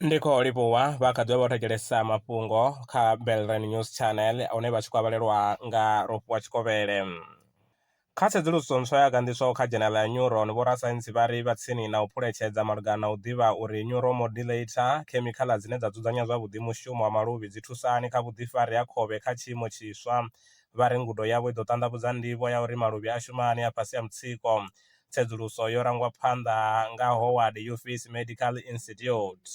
ndi khou livhuwa vha kha ḓivha vha thetshelesa mafhungo kha belran news channel hune vha tshi khou avhalelwa nga rofhiwa tshikovhele kha tsedzuluso ntswa ya ganḓiswaho kha dzhenela ya neuron vhorasaintsi vha ri vha tsini na u phuletshedza malugana na u ḓivha uri neuromodulator khemikhala dzine dza dzudzanya zwavhuḓi mushumo wa maluvhi dzi thusani kha vhuḓifari ha khovhe kha tshiimo tshiswa vha ri ngudo yavho i ḓo ṱanḓavhudza ndivho ya uri maluvhi a shuma hani a fhasi ha mutsiko. Tsedzuluso yo rangwa phanḓa nga Howard Yufis Medical Institute.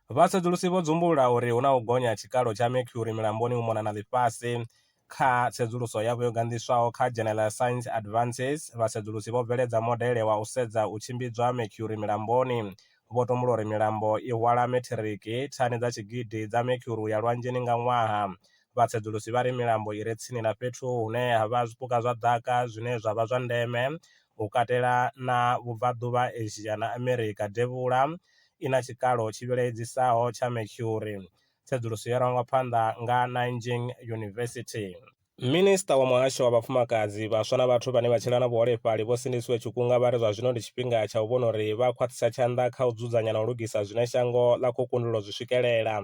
Vhasedzulusi vho dzumbulula uri hu na u gonya ha tshikalo tsha mercury milamboni u mona na ḽifhasi. Kha tsedzuluso yavho yo ganḓiswaho kha dzhenela ya Science Advances, vhasedzulusi vho bveledza modele wa u sedza u tshimbidzwa ha mercury milamboni vho tumbula uri milambo i hwala metiriki thani dza tshigidi dza mercury u ya lwanzheni nga ṅwaha. Vhatsedzulusi vha ri milambo i re tsini na fhethu hune ha vha zwipuka zwa ḓaka zwine zwa vha zwa ndeme, u katela na Vhubvaḓuvha, Asia na Amerika Devhula, i na tshikalo tshi vhilaedzisaho tsha mercury. Tsedzuluso yo rangwa phanḓa nga Nanjing University. Minisiṱa wa Muhasho wa Vhafumakadzi, Vhaswa na Vhathu vhane vha Tshila na Vhuholefhali Vho Sindisiwe Tshikunga vha ri zwa zwino ndi tshifhinga tsha u vhona uri vha a khwaṱhisa tshanḓa kha u dzudzanya na u lugisa zwine shango ḽa khou kundelwa u zwi swikelela.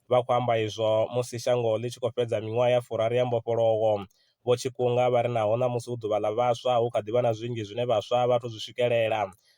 Vha khou amba izwo musi shango ḽi tshi khou fhedza miṅwaha ya furaru ya mbofholowo. Vho Tshikunga vha ri naho ṋamusi hu Ḓuvha ḽa Vhaswa, hu kha ḓi vha na zwinzhi zwine vhaswa a vha athu zwi swikelela.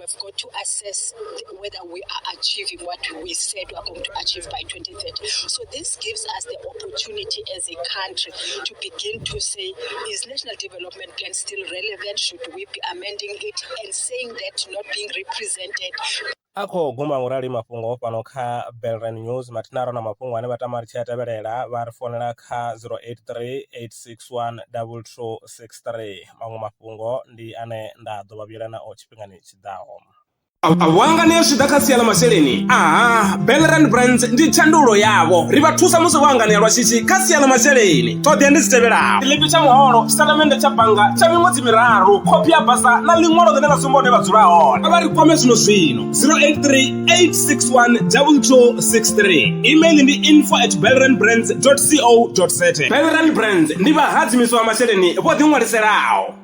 We've got to assess whether we are achieving what we said we are going to achieve by 2030. So this gives us the opportunity as a country to begin to say, is National Development Plan still relevant? Should we be amending it and saying that not being represented a khou guma ngurali mafhungo fhano kha belran news matinaro na mafhungo ane vha tama ri tshi a tevhelela vha ri fonela kha 0838612263 maṅwe mafhungo ndi ane nda ḓo vha vhuyela nao tshifhinga tshifhingani tshi ḓaho awanga ne zwi ḓa kha sia ḽa masheleni aha belrand brands ndi tshandulo yavho ri vha thusa musi vho anganea lwa shishi kha sia ḽa masheleni ṱhoḓea ndi dzi tevhelaho ḽipi tsha muholo tshitatamennde tsha bannga tsha miṅwedzi miraru khophi ya basa na ḽiṅwalo ḽine ḽa sumba hune vha dzula hone a vha ri kwame zwino zwino 083 861 2263 email ndi info at belrand brands co za belrand brands ndi vhahadzimiswa wa masheleni vho ḓiṅwaliselaho